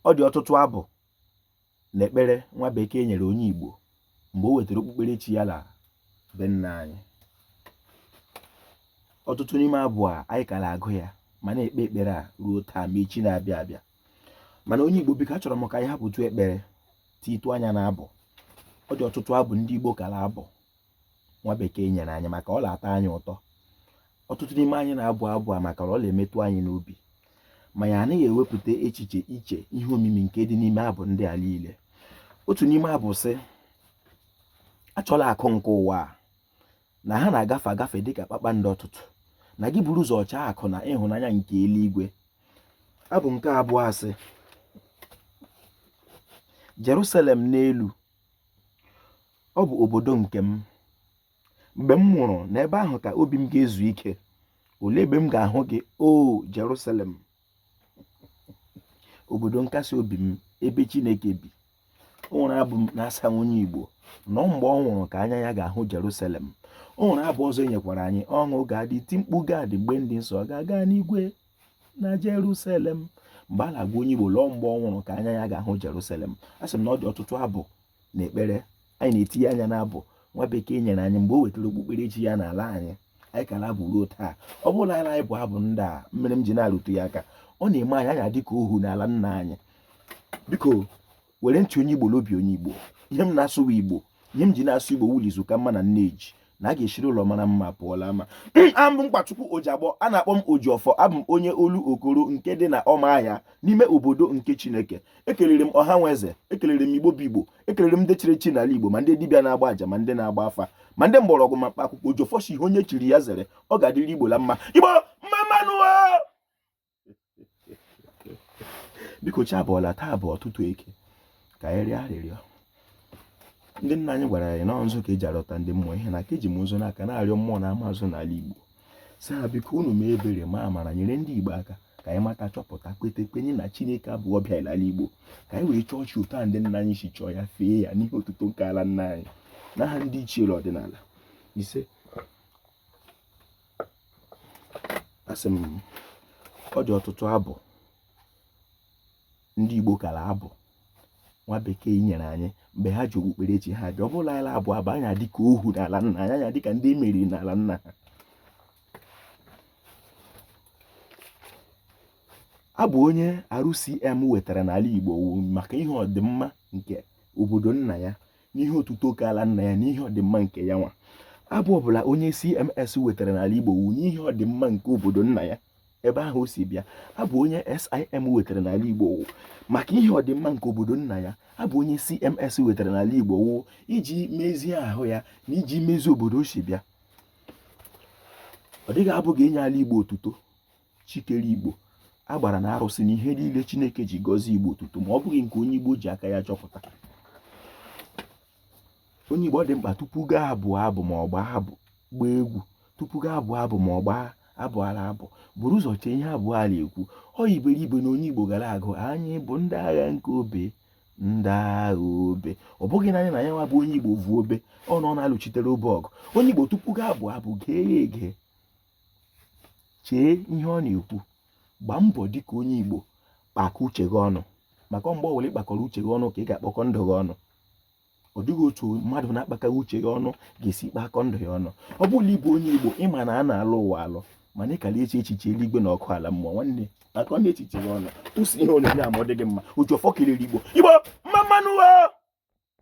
ọ dị ọtụtụ abụ na ekpere nwa bekee nyere onye Igbo mgbe o wetara okpukperechi ya la be nna anyị ọtụtụ n'ime abụ a anyị ka la-agụ ya ma na-ekpe ekpere a ruo taa ma echi na-abịa abịa mana onye Igbo biko achọrọ m ka anyị hapụtụ ekpere tiitụ anya na abụ ọ dị ọtụtụ abụ ndị Igbo ka la-abụ nwa bekee nyere anyị maka ọ na-atọ anyị ụtọ ọtụtụ n'ime anyị na-abụ abụ a maka ọ na-emetụ anyị n'obi ma anyị anaghị ewepụta echiche iche ihe omimi nke dị n'ime abụ ndị a niile otu n'ime abụ sị achọla akụ nke ụwa a na ha na-agafe agafe dịka kpakpando ụtụtụ na gị buru ụzọ chọọ akụ na ịhụnanya nke eluigwe abụ nke abụọ sị Jerusalem n'elu ọ bụ obodo nke m mgbe m nwụrụ n'ebe ahụ ka obi m ga-ezu ike olee ebe m ga-ahụ gị o Jerusalem obodo nkasi obi m ebe Chineke bi o nwere abụ na-asị onye Igbo na ọ mgbe ọ nwụrụ ka anya ya ga-ahụ Jerusalem o nwere abụ ọzọ e nyekwara anyị ọṅụ ga-adị iti mkpu ga-adị mgbe ndị nsọ ga-aga n'igwe na Jerusalem mgbe a na-agwa onye Igbo la ọ mgbe ọ nwụrụ ka anya ya ga-ahụ Jerusalem a sị m na ọ dị ọtụtụ abụ na ekpere anyị na-etinye anya n'abụ nwa bekee nyere anyị mgbe o wetara okpukperechi ya n'ala anyị anyị ka la-abụ ruo taa ọ bụrụ na anyị bụ abụ ndị a mere m ji na-arụtụ ya aka ọ na-eme anyị anyị adị ka ohu n'ala nna anyị biko were ntị onye igbo la obi onye igbo ihe m na-asụ wụ igbo ihe m ji na-asụ igbo wụ la izu ka mma na nneji na a ga-eshiri ụlọ mara mma pụọ l'ama abụ m Nkwachukwu Ojiagbọ a na-akpọ m Ojiọfọ abụ m onye Olokoro nke dị na Ụmụahịa n'ime obodo nke Chineke ekelere m ọha nwe eze ekelere m Igbo bụ Igbo ekelere m ndị chiri echi n'ala Igbo ma ndị dibịa na-agba aja ma ndị na-agba afa ma ndị mgbọrọgwụ ma mkpa akwụkwọ Ojiọfọ sị ihe onye chiri ya zere ọ ga-adịrị Igbo la mma Igbo mma mma nụ biko chi abọọla taa bụ ụtụtụ Eke ka anyị rịọ arịrịọ ndị nna anyị gwara anyị na nzu ka e ji arịọta ndị mmụọ ihe na ka eji m nzu n'aka na-arịọ mmụọ na mmadụ n'ala Igbo sị ha biko unu mee ebere ma amara nyere ndị Igbo aka ka anyị mata chọpụta kweta kwenye na Chineke abụghị ọbịa n'ala Igbo ka anyị wee chọọ chi otu ndị nna anyị si chọọ ya fee ya n'ihi otuto nke ala nna anyị n'aha ndị ichie la ọdịnala isee asị m ọ dị ọtụtụ abụ ndị Igbo ka la-abụ nwa bekee nyere anyị mgbe ha ji okpukperechi ha bịa ọ bụrụ la anyị la-abụ abụ a anyị adị ka ohu n'ala nna anyị anyị adị ka ndị e meriri n'ala nna ha abụ onye RCM wetara n'ala Igbo wụ maka ihe ọdịmma nke obodo nna ya n'ihe otuto nke ala nna ya n'ihe ọdịmma nke ya nwa abụ ọbụla onye CMS wetara n'ala Igbo wu n'ihe ọdịmma nke obodo nna ya ebe ahụ o si bịa abụ onye SIM wetara n'ala Igbo wu maka ihe ọdịmma nke obodo nna ya abụ onye CMS wetara n'ala Igbo wu iji mezie ahụ ya na iji mezie obodo o si bịa ọ dịghị abụ ga-enye ala Igbo otuto chi kere igbo agbara na arụsị na ihe niile chineke ji gọzie igbo otuto ma ọ bụghị nke onye igbo ji aka ya chọpụta onye igbo ọ dị mkpa tupu gaa abụ abụ ma ọ gbaa abụ gbaa egwu tupu gaa abụ abụ ma ọ gbaa abụ a na-abụ buru ụzọ chee ihe abụ ahụ na-ekwu ọ iberibe na onye igbo ga na-agụ anyị bụ ndị agha nke obe ndị agha obe ọ bụghị naanị na ya nwa bụ onye igbo vu obe ọ nọ na-alụchitere obe ọgụ onye igbo tupu gaa abụ abụ gee ya ege chee ihe ọ na-ekwu gbaa mbọ dịka onye Igbo kpakọ uche gị ọnụ maka mgbe ọbụla ị kpakọrọ uche gị ọnụ ka ị ga-akpọkọ ndụ gị ọnụ ọ dịghị otu mmadụ na-akpakaghị uche ya ọnụ ga-esi kpakọ ndụ ya ọnụ ọ bụrụ na ị bụ onye Igbo ị ma na a na-alọ ụwa alọ mana ị ka na-eche echiche eluigwe na ọkụ ala mmụọ nwanne kpakọ echiche gị ọnụ tụsi ihe onyonyo a ma ọ dị gị mma Ojiọfọ kelere Igbo Igbo mma mma nụ